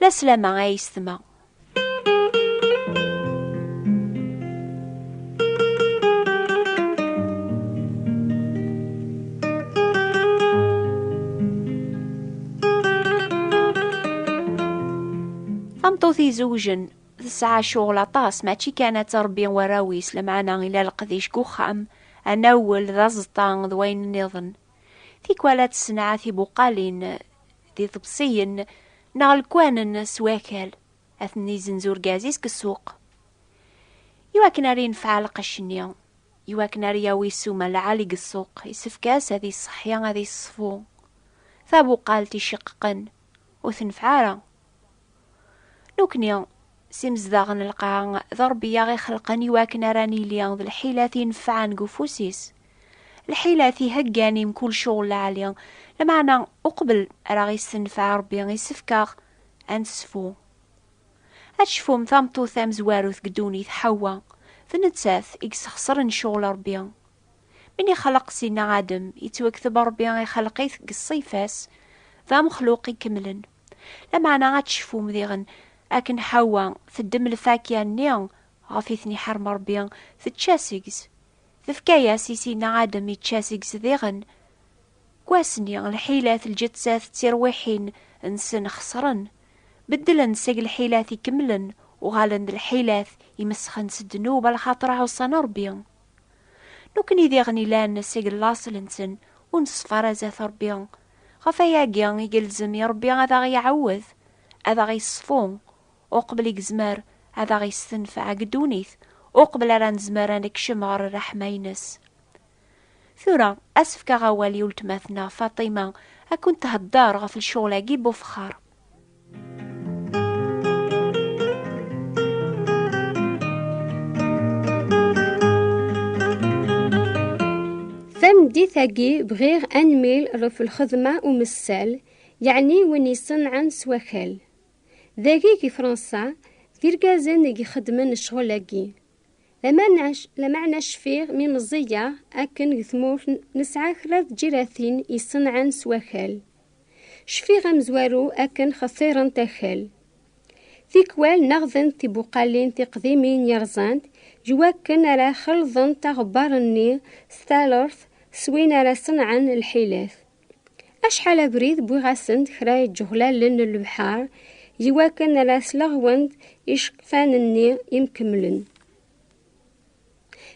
La slama a yessetma. tameṭṭut izewjen tesɛa cɣel aṭas mačči kan ad tṛebbi warraw-is lameɛna ila leqdic deg uxxam anawel d aẓeṭṭa d wayen nniḍen Tikwal ad tessenɛa tibuqalin d iḍebsiyen neɣ lekwanen s wakal, ad ten-izenz urgaz-is deg ssuq. I wakken ara yenfeɛ lqecc-nni, i wakken ara yawi ssuma lɛali deg ssuq, yessefk-as ad iṣeḥḥi, ad iṣfu tabuqalt iceqqeqen, ur tenfeɛ ara. Nukni, s imezdaɣ n lqaɛa, d Ṛebbi i aɣ-ixelqen i wakken ara nili d lḥilat i nefɛen deg ufus-is. Lḥilat i heggan i mkul cɣel lɛali, lameɛna uqbel ara aɣ-issenfeɛ Ṛebbi isefk-aɣ ad ncfu. Ad tecfum tameṭṭut tamezwarut deg ddunit, Ḥawwa, d nettat i yesxesren cɣel Ṛebbi. Mi n-ixleq Sidna Adem, yettwekteb Ṛebbi ixelq-it deg ṣṣifa-s d amexluq ikemlen. Lameɛna ad tecfum diɣen akken Ḥawwa teddem lfakya-nni ɣef i ten-iḥerrem Ṛebbi, tečča seg-s, tefka-yas i Sina Adem ičča seg-s diɣen. Deg wass-nni, lḥilat lǧettat d tirwiḥin nsen xeṣren. Beddlen-d seg lḥilat ikemlen, uɣalen d lḥilat imesxen s ddnub a lxaṭer ɛuṣan Ṛebbi. Nukni diɣen ilan seg laṣel-nsen ur nṣeffer ara zdat Ṛebbi, Ɣef wayagi i yelzem i Ṛebbi ad aɣ-iɛawed, ad aɣ-iṣfu, uqbel i yezmer ad aɣ-istenfeɛ deg ddunit, uqbel ara nezmer ad nekcem ɣer ṛṛeḥma-ines. Tura, ad s-fkeɣ awal i weltma-tneɣ Faṭima ad kent-theddeṛ ɣef lecɣal-agi n wefxaṛ. Tameddit-agi bɣiɣ anmil ɣef lxedma umessal, yeɛni win iṣenɛen s wakal. Dagi deg Fransa, d irgazen i ixeddmen ccɣel-agi. Lameɛna cfiɣ mi meẓẓiyeɣ akken deg tmurt nesɛa kra n tǧiratin iṣenɛen s wakal. Cfiɣ amezwaru akken xeṣṣirent akal. Tikwal neɣdent tibuqalin tiqdimin yerẓant deg wakken ara xelḍent aɣebbar-nni s talert s win ara ṣenɛen lḥilat. Acḥal abrid wwiɣ-asen-d kra iǧeɣlalen n lebḥer deg wakken ara sleɣwent iceqfan-nni imkemmlen.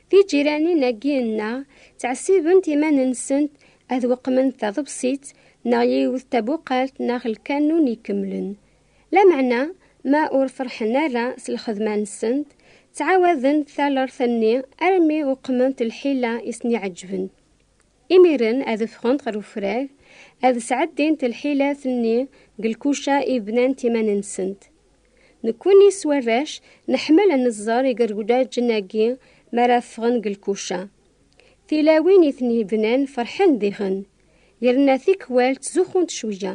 Tiǧiranin-agi nneɣ ttɛessibent iman-nsent ad weqment taḍebsit neɣ yiwet tabuqalt neɣ lkanun ikemlen. Lameɛna ma ur ferḥen ara s lxedma-nsent, ttɛawadent talert-nni armi weqment lḥila i sen-iɛeǧben. Imiren ad ffɣent ɣer ufrag, ad sɛeddint lḥilat-nni deg lkuca i bnant iman-nsent. Nekkini s warrac neḥmel ad neẓẓer igerdaǧen-agi mi ara ffɣen deg lkuca. Tilawin i ten-ibnan ferḥen diɣen, yerna tikwal ttzuxxunt cwiyya,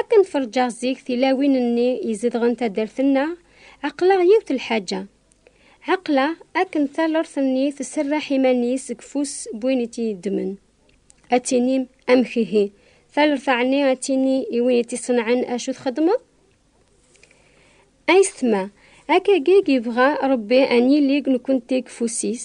Akken ferǧaɣ zik tilawin-nni izedɣen taddart-nneɣ, ɛeqleɣ yiwet n lḥaǧa. Ɛeqleɣ akken talert-nni tserreḥ iman-is deg ufus n win i tt-yeddmen. Ad tinim, amek ihi? Talert ɛni ad tini i win i tt-iṣenɛen acu txedmeḍ? Ayetma, akkagi i yebɣa Rebbi ad nili nekkenti deg ufus-is,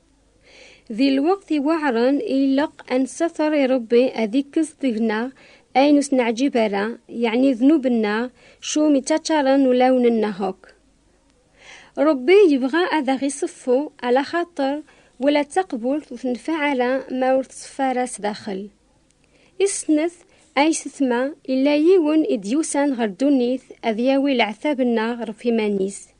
Di lweqt iweɛren i ileq a nessater i Rebbi ad ikkes deg-neɣ ayen ur s-neɛǧib ara, yeɛni ddnub-nneɣ, cum ittaččaren ulawen-nneɣ akk. Rebbi yebɣa ad aɣ-iṣeffu, alaxaṭer wala d taqbult ur tenfaɛ ara ma ur teṣfa ara sdaxel. I snat, ay setma, yella yiwen i d-yusan ɣer ddunit ad yawi leɛtab-nneɣ ɣef iman-is.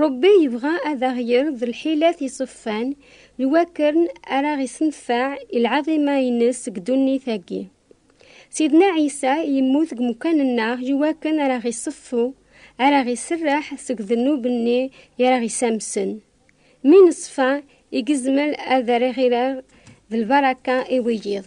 Ṛebbi yebɣa ad aɣ-yerr d lḥilat iṣeffan n wakken ara ɣ-issenfeɛ i lɛaḍima-ines deg ddunit-agi. Sidna Ɛisa yemmut deg umekkan-nneɣ i wakken ara ɣ-iṣeffu, ara ɣ-iserreḥ seg ddnub-nni i ara ɣ-isamsen. Mi neṣfa, i yezmer ad aɣ-iɣireɣ d lbaraka i wiyiḍ.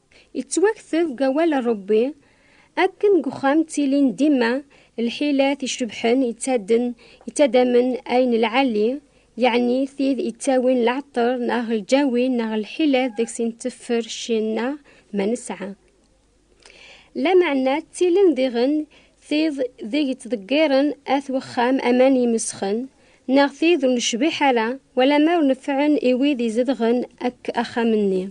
Yettwakteb deg awal n Ṛebbi, Akken deg uxxam ttilin dima lḥilat icebḥen yettaddamen ayen lɛali, yeɛni tid yettawin leɛṭer neɣ lǧawi neɣ lḥilat deg-s nteffer cci-nneɣ ma nesɛa. Lameɛna ttilin diɣen tid deg ttḍeggiren at wexxam aman yemesxen, neɣ tid ur necbiḥ ara wala ma ur nefɛen i wid izedɣen akk axxam-nni.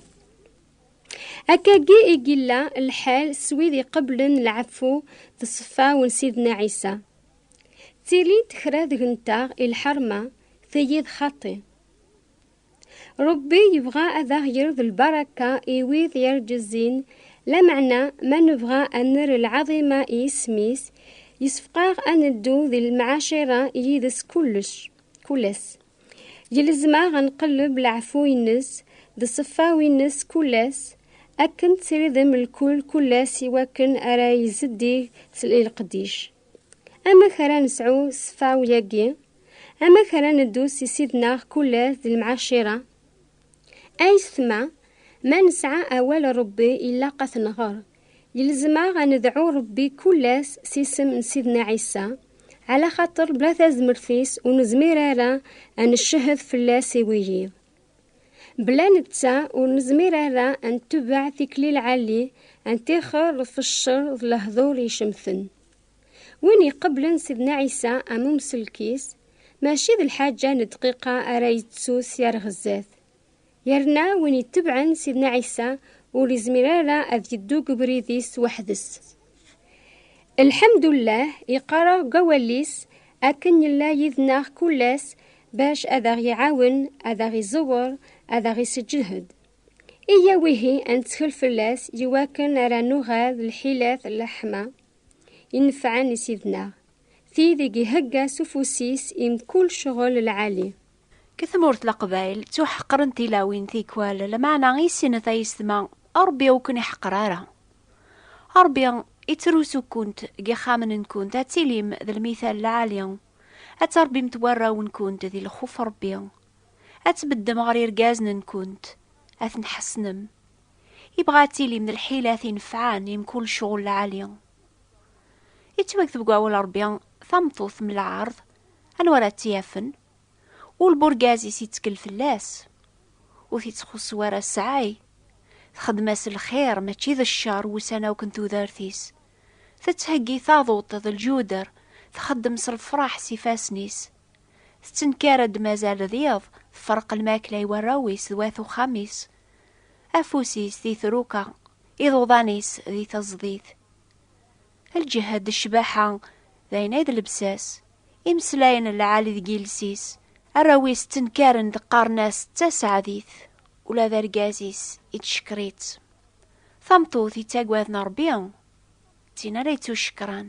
Akkagi i yella lḥal s wid iqeblen lɛeffu d ṣṣfa n Sidna Ɛisa. Ttilint kra deg-nteɣ i lḥerma, tigi d xaṭi. Ṛebbi yebɣa ad aɣ-yerr d lbaraka i wid yerǧezzin, lameɛna ma nebɣa ad nerr lɛaḍima i yisem-is, yessefqaɣ ad neddu di lemɛacira yid-s kullec, kullec. Yelzem-aɣ ad nqelleb leɛfu-ines d ṣṣeffa-ines kul ass, akken ţ-ţiridem lkul kul ass i wakken ara izeddig s leqdic. Amek ara nesɛu ṣṣeffa-yagi? Amek ara neddu s Ssid-neɣ kul ass d lemɛacira? Ayetma, ma nesɛa awal n Ṛebbi ilaq ad t-nɣer, Yelzem-aɣ a nedɛu Ṛebbi kul ass s isem n Sidna Ɛisa, ɛla xaṭer bla tazmert-is ur nezmir ara a neccehed fell-as i wiyiḍ. Bla netta ur nezmir ara a netbeɛ tikli lɛali a ntixer ɣef ccer d lehdur icemten. Win iqeblen Sidna Ɛisa am umselk-is, maci d lḥaǧa n dqiqa ara yettu syar ɣer zdat. Yerna win itebɛen Sidna Ɛisa ur izmir ara ad yeddu deg ubrid-is weḥd-s. Lḥemdullah iqqareɣ deg awal-is akken yella yid-neɣ kull ass bac ad aɣ-iɛawen, ad aɣ-iẓewwer, ad aɣ-isseǧhed. Iyyaw ihi ad nettkel fell-as i wakken ara nuɣal d lḥilat n lḥeḥma inefɛen i Sid-neɣ, tid i ihegga s ufus-is i mkul ccɣel lɛali. Deg tmurt Leqbayel, ttuḥeqren tilawin tikwal, lameɛna i sinet ay yessetma, Ṛebbi ur ken-iḥeqer ara. Ṛebbi yettrusu-kent deg yixxamen-nwent ad tilim d lmital lɛali, ad tṛebbimt warraw-nwent di lxuf Ṛebbi, ad tbeddem ɣer yergazen-nwent, ad ten-ḥessnem. Yebɣa ad tilim d lḥilat inefɛen i mkul ccɣel lɛali. Yettwakteb deg Wawal Ṛebbi, Tameṭṭut mm lɛerḍ, anwa ara tt-yafen? Ul burgaz-is ittkel fell-as, ur t-ittxuṣṣu ara ssɛay, txeddem-as lxir mačči d ccer wussan akk n tudert-is, tettheggi taḍuṭ d lǧuder, txeddem s lefraḥ s ifassen-is, tettenkar-d mazal d iḍ, tferreq lmakla i warraw-is d wat uxxam-is, afus-is di truka, iḍuḍan-is di teẓdit. Lǧehd d ccbaḥa, d ayen ay d lebsas. Imeslayen n lɛali deg yiles-is. Arraw-is ttenkaren d qqaren-as d taseɛdit. Ula d argaz-is ittcekker-itt. Tameṭṭut yettaggaden Rebbi, d tin ara yettucekkren.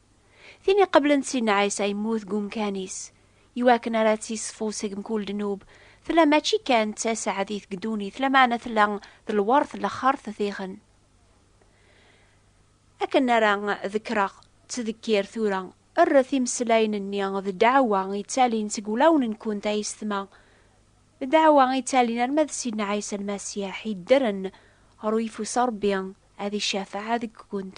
Tin iqeblen Sidna Ɛisa yemmut deg umkan-is, iwakken ara tt-iṣfu seg mkul ddnub, tella mačči kan d taseɛdit deg ddunit, lameɛna tella d lwert n laxert diɣen. Akken ara ḍekkreɣ, ttdekkir tura, rret imeslayen-nni d ddeɛwa yettalin seg wulawen-nkent a yessetma, d ddeɛwa yettalin arma d Sidna Ɛisa Lmasiḥ yeddren ɣer uyeffus n Ṛebbi ad icafeɛ deg-kent.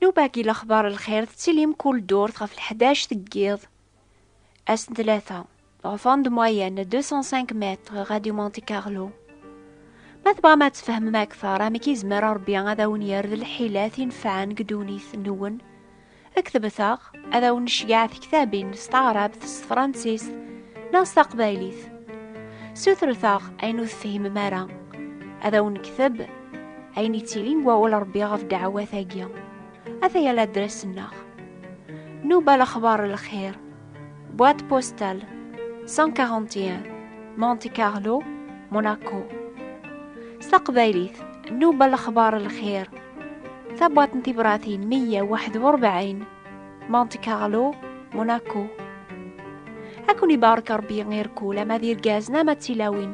Newbagi Lexbar n lxir tettili mkul ddurt ɣef lḥdac deg yiḍ, ass n tlata, en fin de moyenne 205 mètres, Radio Monte Carlo. Ma tebɣam ad tfehmem akteṛ amek i zemmer Ṛebbi ad awen-yerr d lḥilat inefɛen deg ddunit-nwen, ktbet-aɣ. ad awen-necgeɛ tektabin s taɛrabt s tefransist neɣ s taqbaylit sutret-aɣ ayen ur tefhimem ara ad awen-nekteb ayen yettilin deg wawal rebbi ɣef dɛawat-agi ataya ladres-nneɣ nuba lexbar lxir boîte postale 141 Monte Carlo Monaco s taqbaylit nuba lexbar lxir tabwaḍt n tibratin 141 Monte Carlo Monaco ad ken ibarek rebbi irkul ama d irgazen ama d tilawin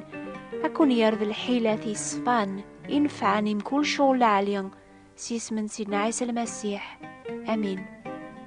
ad ken yerr d lḥilat yeṣfan inefɛen i mkul cɣel lɛali s yisem n sidna ɛisa lmasiḥ amin